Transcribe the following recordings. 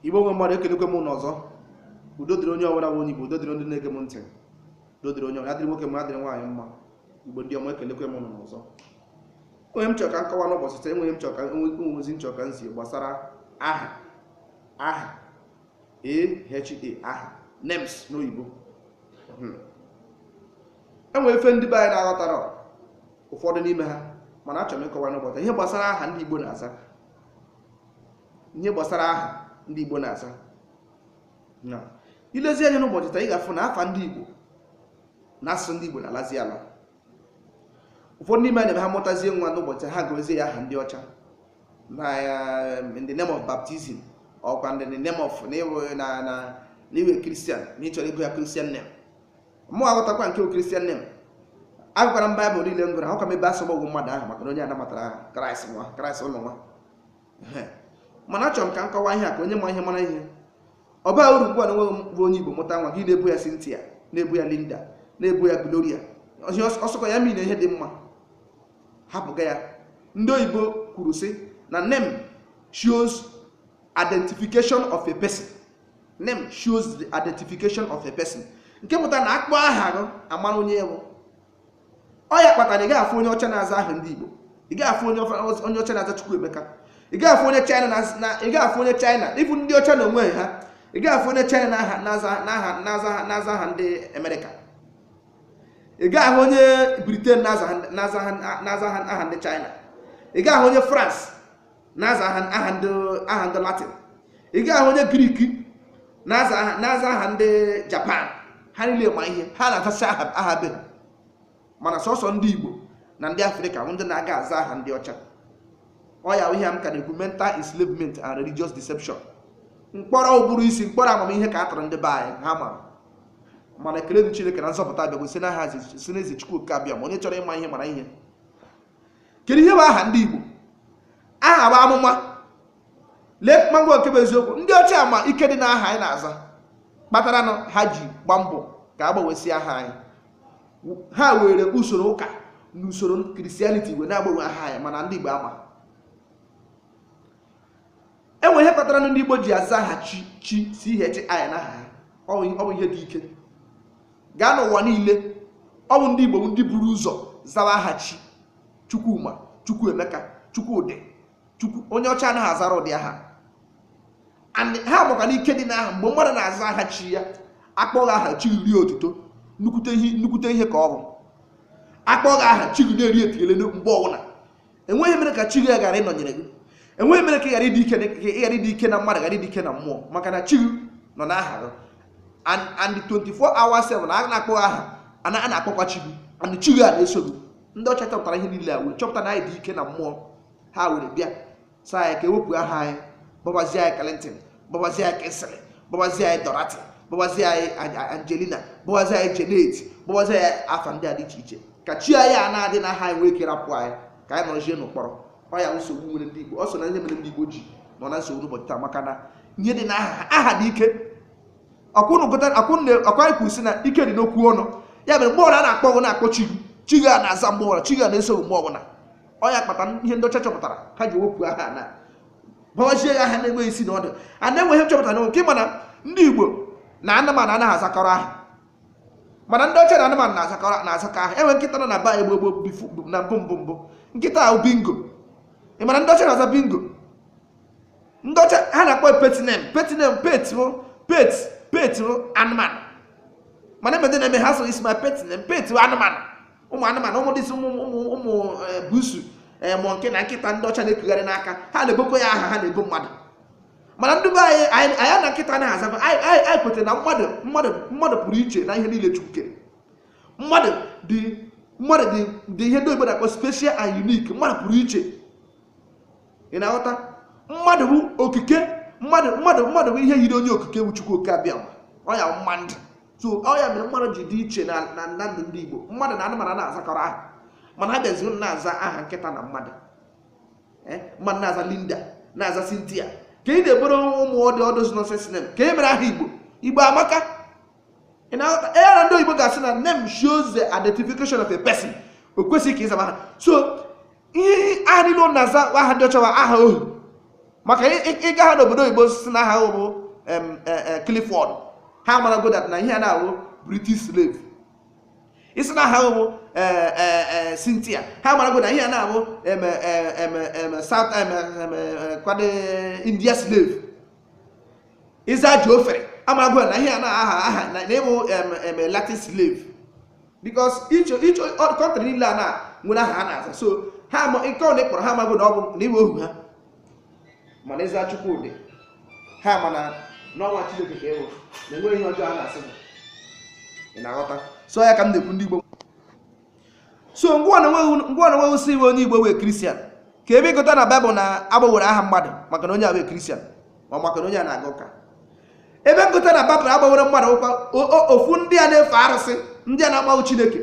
igbo nwe mmadụ ekelekwe m unu ọzọ udo dịrị onye ọbụla bụ onye igbo udo dịrị ndị na-ege m ntị udo dịrị onye ọbụla dịrị nwoke mma dịrị nwaanyị mma igbo ndị ọma ekelekwe m unu ọzọ o nwe ihe m chọrọ ka m kọwaa n'ụbọchị taa enwe ihe m chọrọ ka enwe ozi m chọrọ ka m zi gbasara aha aha aha names n'oyibo hmm. enwere ife ndị be anyị na-aghọtara ụfọdụ n'ime ha mana achọrọ m ịkọwa n'ụbọchị ihe gbasara aha ndị igbo na-aza ihe gbasara aha ndị Igbo na-aza na ilezi anya n'ụbọchị taa ị ga-afụ na afa ndị Igbo na asụsụ ndị Igbo na-alazi ala ụfọdụ n'ime anyị na-eme ha mụtazie nwa n'ụbọchị ha gụọzie ya aha ndị ọcha na um, in the name of baptism ọkwa in the name of na ịwụ- na na na ịwụ kristian na ịchọrọ ịgụ ya kristian name mụ aghọtakwa nke wụ kristian name agụkwara m baịbụl niile m gụrụ ahụka m ebe asọgbu ọgwụ mmadụ ahụ maka na onye anamatara aha kraịst nwa kraịst ụlọ nwa Ehe. mana achọrọ m ka m kọwaa ihe a ka onye ma ihe mara ihe ọ baa uru ugbu a na onwe gị bụ onye igbo mụta nwa gị na-aba ya Cynthia na-aba ya Linda na-aba ya Gloria Ihe ọs- ọsọkọ ya mean ihe dị mma hapụga ya ndị oyibo kwuru sị na name shows identification of a person name shows the identification of a person nke pụtara na akpọ aha gị amara onye ị wụ ọ ya kpatara ị gaghị afụ onye ọcha na-aza aha ndị Igbo ị gaghị afụ onye ọfa- onye ọcha na-aza Chukwuemeka ị gaghị afụ onye China na- na ị gaghị afụ onye China even ndị ọcha na onwe ha ị gaghị afụ onye China na-aha na-aza na-aha na-aza na-aza aha ndị Amerịka ị gaghị ahụ onye Britain na-aza aha- na-aza aha- na-aza aha aha ndị China ị gaghị ahụ onye France na-aza aha ndị aha ndị latin ị gaghị ahụ onye grik na-aza aha ndị japan ha niile ma ihe ha na-azasị aha aha be ha mana sọsọ ndị igbo na ndị afrịka bụ ndị na-aga aza aha ndị ọcha ọ ya bụ ihe m ka na-ekwu mental enslavement and religious deception mkpọrọ ụbụrụ isi mkpọrọ amamihe ka a tụrụ ndị be anyị ha mara mana ekele dị chineke na nzọpụta abịago si n'aha si n'ezi chukwu oke abịama onye chọrọ ịma ihe mara ihe kedu ihe bụ aha ndị Igbo aha bụ amụma lee m anya nke bụ eziokwu ndị ọcha ma ike dị n'aha anyị na-aza kpatara na ha ji gba mbọ ka agbanwesị aha anyị ha were usoro ụka na usoro kristianiti wee na-agbanwe aha anyị mana ndị Igbo ama enwe ihe kpatara na ndị Igbo ji aza aha chi chi chi na aha ha ọ bụ ihe dị ike gaa n'ụwa niile ọ bụ ndị igbo bụ ndị buru ụzọ zawa aha chi chukwuma chukwuemeka chukwudị chukwu onye ọcha anaghị azara ụdị aha And ha makwa na ike dị n'aha mgbe mmadụ na-aza aha chi ya akpọọ gị aha chi erie otuto nnukwute ihe nnukwute ihe ka ọ bụ akpọọ gị aha chi gị na-eri etinyele mgbe ọbụla enweghị ihe mere ka chi gị ghara ịnọnyere gị enweghị ihe mere ka ị ghara ịdị ike ị ghara ịdị ike na mmadụ ghara ịdị ike na mmụọ maka na chi gị nọ n'aha gị and and 24 hours 7 a na-akpọ aha a na- a na-akpọkwa chi gị and chi gị a na-eso gị ndị ọcha chọpụtara ihe niile a wee chọpụta na anyị dị ike na mmụọ ha were bịa sị anyị ka e wepụ aha anyị gbabazie anyị clinton gbawazie anyị kingsley gbawazie anyị dorothy gbawazie anyị angelina gbawazie anyị janet gbawazie anyị afa ndị a dị iche iche ka chi anyị a na-adị n'aha nwee ike rapụ anyị ka anyị nọzie n'ụkpọrọ ọ ya nsogbu nwere ndị igbo ọ so na ihe mere ndị igbo ji nọ na nsogbu n'ụbọchị taa maka na ihe dị na aha aha dị ike ọ kwanụ anyị kwuru sị na ike dị n'okwu ọnụ ya mere mgbe ọbụla a na-akpọ gị a na-akpọ chi chi gị a na-aza mgbe ọbụla chi gị a na-eso mgbe ọbụla ọ ya kpata ihe ndị ọcha chọpụtara ha ji wepụ aha na gbawazie anyị aha na-enweghị isi na ọdụ aha na-enweghị nchọpụta na nke mana ndị igbo na anụmanụ anaghị azakọrọ aha mana ndị ọcha na anụmanụ na-azakọrọ na-azakọ aha e nwee nkịta nọ na be igbo gboo before na mbụ mbụ mbụ nkịta ahụ bingo ị ma na ndị ọcha na-aza bingo ndị ọcha ha na-akpọ pet name pet name pet wụ pet pet wụ anụmanụ mana ebe ndị na-eme ha so isi ma pet name pet wụ anụmanụ ụmụ anụmanụ ụmụ this thing ụmụ ụmụ ụmụ eh, busu eh, mọ nke na nkịta ndị ọcha na-ekugharị n'aka ha na-ebokwa ya aha ha na-ebo mmadụ mana ndị be anyị anyị anyị na nkịta anaghị aza aha anyị anyị anyị kwetara na mmadụ mmadụ mmadụ pụrụ iche na ihe niile chukwu kere mmadụ dị mmadụ dị dị ihe ndị oyibo na-akpọ special and unique mmadụ pụrụ iche ị na-aghọta mmadụ bụ okike mmadụ mmadụ mmadụ bụ ihe yiri onye okike bụ chukwu oke abịama ọ ya bụ mmadụ so ọ ya mere mmadụ ji dị iche na na na ndụ ndị igbo mmadụ na anụmanụ anaghị azakọrọ aha mana ha bịazi unu na-aza aha nkịta na mmadụ Eh, mmadụ na-aza linda na-aza cynthia ka ị na-eboro ụmụ ọ dị ọ dịzi nonsense name kee ihe mere aha igbo igbo amaka ị na-aghọta ee na ndị oyibo ga-asị na name shows the identification of a person o kwesịghị ka ị zaba aha so ihe aha niile unu na-aza bụ aha ndị ọcha bụ aha ohu maka ị- ị- ị gaa n'obodo oyibo sị na aha gị bụ em, e- e, Clifford ha amarago that na ihe a na ọ wụ British slave ị sị na aha gị bụ e, e, e, Cynthia ha amarago that na ihe a na ọ wụ em, e, em, em, South em, em, e, kwado India slave ị zaa geoffrey amago na ihe a na-aha aha na ị bụ em latin slave because each each country niile a na nwere aha ha na-aza so ha ama nke ọ na-akpọrọ ha amago na ọ bụ na ị wụ ohu ha mana ị zaa chukwudi ha ama na ọ nwa chineke ka ị wụ na enweghị ihe ọjọọ a na-asị ị na-aghọta so ya ka m na-ekwu ndị igbo so ngwa na nweghị si iwe onye igbo wụ kristian ka ebe ị gụta na baịbụl na a gbanwere aha mmadụ maka na onye a wụ kristian ma maka na onye a na-aga ụka ebe m gụta na baịbụl a gbanwere mmadụ ọkwa ofu ndị a na-efe arụsị ndị a na-amaghị chineke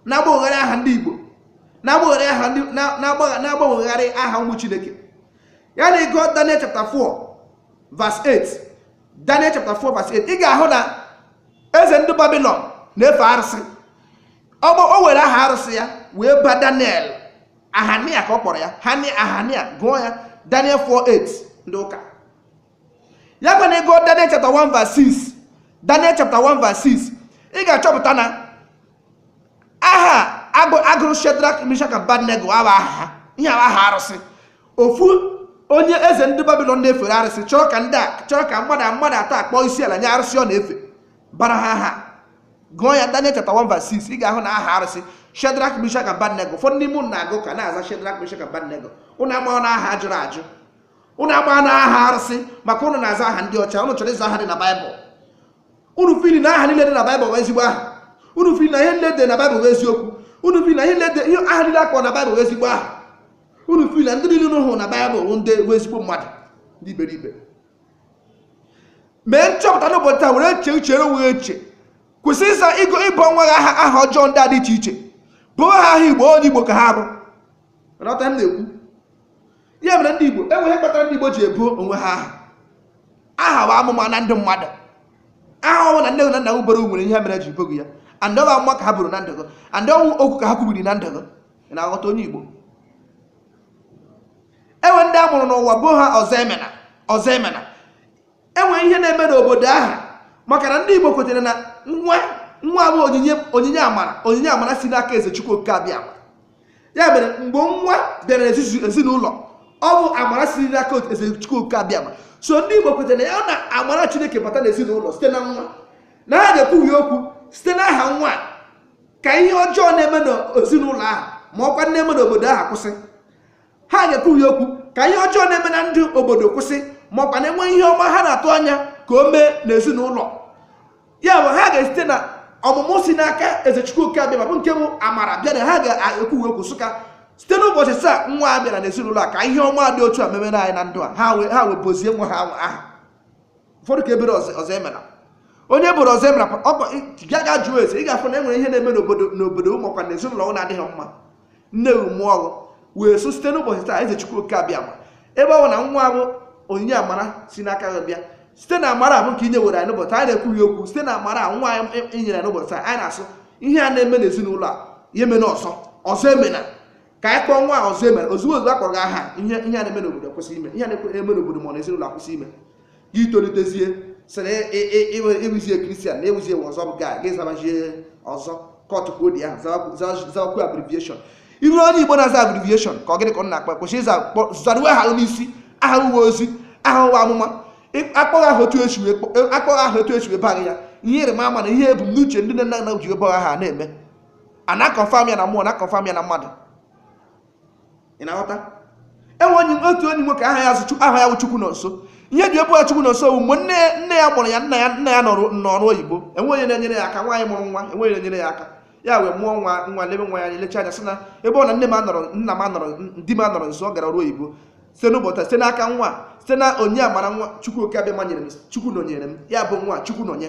na-agbanwegharị aha ndị igbo na-agbanwegharị aha ndị na-agbanwegharị aha ụmụ chineke ya na ị gụọ daniel chapter 4 verse 8 daniel chapter 4 verse 8 ị ga-ahụ na eze ndị babilon na-efe arụsị ọgbọ o were aha arụsị ya wee ba daniel ahania ka ọ kpọrọ ya hani ahania gụọ ya daniel 4 8 ndị ụka ya kwa na ị gụọ daniel chapter 1 verse 6 daniel chapter 1 verse 6 ị ga-achọpụta na aha a gụ- a gụrụ shedrak mishak abednego awụghị aha ha ihe a wụ aha arụsị ofu onye eze ndị babilon na-efere arụsị chọrọ ka ndị a chọrọ ka mmadụ mmadụ atọ a kpọọ isi ala nye arụsị ọ na-efe bara ha aha gụọ ya Daniel chapter 1 verse 6 ị ga-ahụ na aha arụsị Shedrak Mishak Abednego ụfọdụ n'ime ụnụ na-agụ ka na-aza Shedrak Mishak Abednego ụnụ amaghị na aha a jụrụ ajụ ụnụ amaghị na aha arụsị maka ụnụ na-aza aha ndị ọcha ụnụ chọrọ ịza aha dị na Baịbụl unu feel na aha niile dị na Baịbụl bụ ezigbo aha unu feel na ihe niile dị na Baịbụl bụ eziokwu unu feel na ihe niile dị ihe aha niile a kpọrọ na Baịbụl bụ ezigbo aha unu feel na ndị niile unu hụrụ na Baịbụl bụ ndị bụ ezigbo mmadụ ndị iberibe mee nchọpụta n'ụbọchị taa were chee uche onwe gị eche kwụsị ịza ịgụ ibu nwa gị aha aha ọjọọ ndị a dị iche iche buo ha aha igbo onye igbo ka ha bụ ghọta ihe m na-ekwu ya mere ndị igbo enwe ihe kpatara ndị igbo ji ebu onwe ha aha aha bụ amụma na ndụ mmadụ aha ọ wụna nne gị na nna gị buru nwere ihe mere ji buo gị ya and ọ wụ amụma ka ha buru na ndụ gị and ọ wụ okwu ka ha kwubiri na ndụ gị ị na-aghọta onye igbo enwe ndị a mụrụ n'ụwa buo ha ọzọ emena ọzọ emena enwe ihe na-eme n'obodo ahụ maka na ndị Igbo kwetere na nwa nwa bụ onyinye onyinye amara onyinye amara si n'aka eze Chukwu oke abịama ya mere mgbe nwa bịara ezinụlọ ọ bụ amara si n'aka eze Chukwu oke abịama so ndị Igbo kwetere na ya na amara Chineke bata n'ezinụlọ site na nwa na ha ga-ekwu okwu site n'aha nwa ka ihe ọjọọ na-eme n'ezinụlọ ahụ ma ọkwa na-eme n'obodo ahụ kwụsị ha ga-ekwu okwu ka ihe ọjọọ na-eme na ndụ obodo kwụsị ma ọkwa na enwe ihe ọma ha na-atụ anya ka o mee n'ezinụlọ ya bụ ha ga-esite na ọmụmụ si n'aka ezechukwu oke abịama bụ nke bụ amara bịa na ha ga-ekwu okwu sị ka site n'ụbọchị taa nwa a bịara n'ezinụlọ a ka ihe ọma dị otu a memere anyị na ndụ a ha wee buozie nwa ha aha ụfọdụ ka e bere ọzọ ọzọ emela onye bụrụ ọzọ emela ọkwa bịa gaa jụọ ese ị ga-afụ na e nwere ihe na-eme n'obodo n'obodo ma ọ bụkwa na ezinụlọ ọ na-adịghị mma nne gị mụọ gị wee sị site n'ụbọchị taa eze chukwu oke abịama ebe ọ bụ na nwa a bụ onyinye amara si n'aka gị bịa site na amara a bụ nke i nyewere anyị n'ụbọchị anyị na-ekwughị okwu site na amara a nwa anyị i- i nyere anyị n'ụbọchị taa anyị na-asụ ihe a na-eme n'ezinụlọ a ya emena ọzọ ọzọ emena ka anyị kpọọ nwa a ọzọ emena ozugbo ozugbo a kpọrọ gị aha ihe ihe a na-eme n'obodo kwụsị ime ihe a na-eme n'obodo ma ọ na ezinụlọ akwụsị ime gị tolitezie sịrị ị wụzie christian na ị wụzie ọzọ bụ gaa gị zabazie ọzọ kọtụ ka odi ahụ zawakwu abbreviation ị wụrụ onye igbo na-aza abbreviation ka ọ gịnị ka ọ na-akpa kwesịrị ịza zaruwe aha n'isi aha wụ ozi aha wụ amụma a kpọọ gị aha otu e si a kpọọ gị aha otu e si baa gị ya ihe ịrịma ama na ihe ebumnuche ndị nne na nna ji ebe aha na-eme a na-aconfirm ya na mmụọ na-aconfirm ya na mmadụ ị na-aghọta e nwere otu onye nwoke aha ya wụ aha ya chukwunọnso ihe e ji ebe chukwunọnso bụ mgbe nne nne ya mụrụ ya nna ya nna ya nọrọ n'ọrụ oyibo enwe onye na-enyere ya aka nwaanyị mụrụ nwa enwe onye na-enyere ya aka ya wee mụọ nwa nwa lebe nwa ya anya lecha anya sị na ebe ọ na nne m anọrọ nna m anọrọ di m anọrọ nso ọ gara ọrụ oyibo site n'ụbọchị site n'aka nwa site na onyinye amara nwa chukwu oke abịama nyere m chukwu nọnyere m ya bụọ nwa chukwunọnye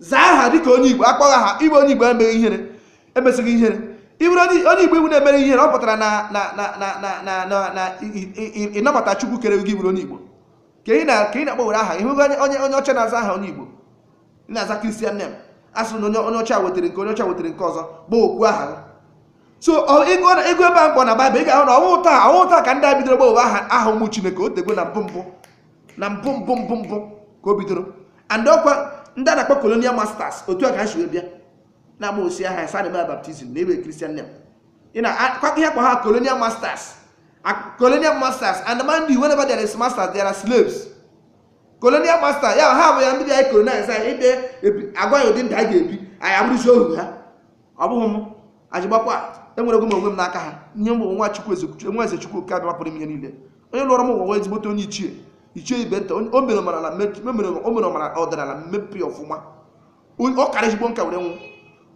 zaa aha dịka onye igbo a kpọọ gị aha ị bụ onye igbo emee gị ihere emesi gị ihere ị bụrụ onye igbo ị wụ na-eme gị ihere ọ pụtara na ị nabata chukwu kere gị bụrụ onye igbo ka ị na-akpọwere aha ị hụghị onye onye ọcha na-aza aha onye igbo ị na-aza christian name a sị na onye onye ọcha wetara nke onye ọcha wetara nke ọzọ bụ okwu aha gị so ị gụọ ebe a m kpọ na baịbụl ị ga-ahụ na ọ wụghị taa ọ wụghị taa ka ndị a bidoro gbanwe aha aha ụmụ chineke o tego na mbụ mbụ na mbụ mbụ mbụ mbụ ka o bidoro and ọkwa ndị a na-akpọ colonial masters otu a ka ha si wee bịa na-agbanwesi aha anyị sị anyị mee baptism na-ebe christian name ị makwa ihe a kpọ ha colonial masters Ak- colonial masters and mind you whenever there is masters there are slaves colonial master ya ha bụ ya ndị bịa colonize anyị ide ebi- agwa anyị ụdị ndụ anyị ga-ebi anyị abụrụzi ohu ha ọ bụghị m ajigbakwa enwerego m onwe m n'aka ha ihe m bụ nwa chukwu ezechukwu enwe eze chukwu oke abịama pụrụ ime ihe niile onye lọrọ m ụwa wụ ezigbote onye ichie ichie ibe nta onye- o mere ọ mara na me- o mere o mere ọ mara ọdịnala mmepe ọfụma Onye- ọ kara ezigbo nka wee nwụọ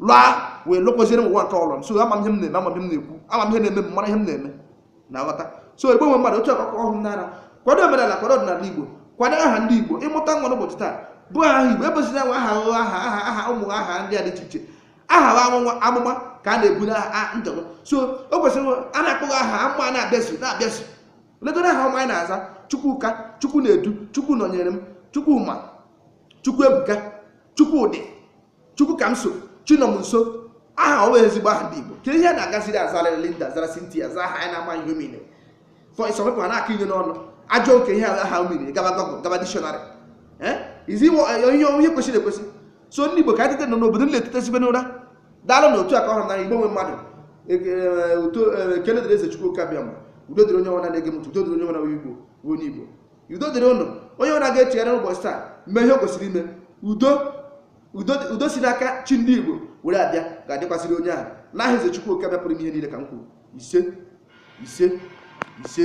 laa wee lọkwaziere m ụwa nke ọ lọ m so ama m ihe m na-eme ama m ihe m na-ekwu ama m ihe na-eme m mara ihe m na-eme ị na-aghọta so igbo nwe mmadụ otu akụkọ ọhụrụ n'ara kwado omenala kwado ọdịnala igbo kwado aha ndị igbo ị mụta nwa n'ụbọchị taa bụọ aha igbo ebezina nwa aha ụgha aha aha aha ụmụ aha ndị a dị iche iche aha bụ amụma amụma ka a na-ebu na ndị igbo so o kwesịrị a na-akpọ gị aha amụma a na-abịazu na-abịazu legoro aha ọma anyị na-aza chukwuka chukwunaedu chukwunọnyerem chukwuma chukwuebuka chukwudi chukwukamso chinọmnso aha ọ wụ ezigbo aha ndị igbo kee ihe a na-agaziri azara linda zara cynthia zaa aha anyị na-ama ihe ọ mean for some people na-akụ inyo n'ọnụ ajọ nke ihe ala ha mmiri gaba google gaba dictionary izi ihe onye kwesịrị ekwesị so ndị igbo ka anyị tetenụ na obodo nile etetesigo n'ụra daalụ na otu aka ọhụrụ na igbo nwe mmadụ otuto ekele dịrị eze chukwu oke abịama udo dịrị onye ọbụna na-ege m ntị udo dịrị onye ọbụna onye igbo bụ onye igbo udo dịrị ụnụ onye ọbụna ga-echegharị n'ụbọchị taa mee ihe o kwesịrị ime udo udo udo si n'aka chi ndị igbo were abịa ga-adịkwasịrị onye ahụ n'aha eze chukwu oke abịama pụrụ ime ihe niile ka m kwuru ise ise ise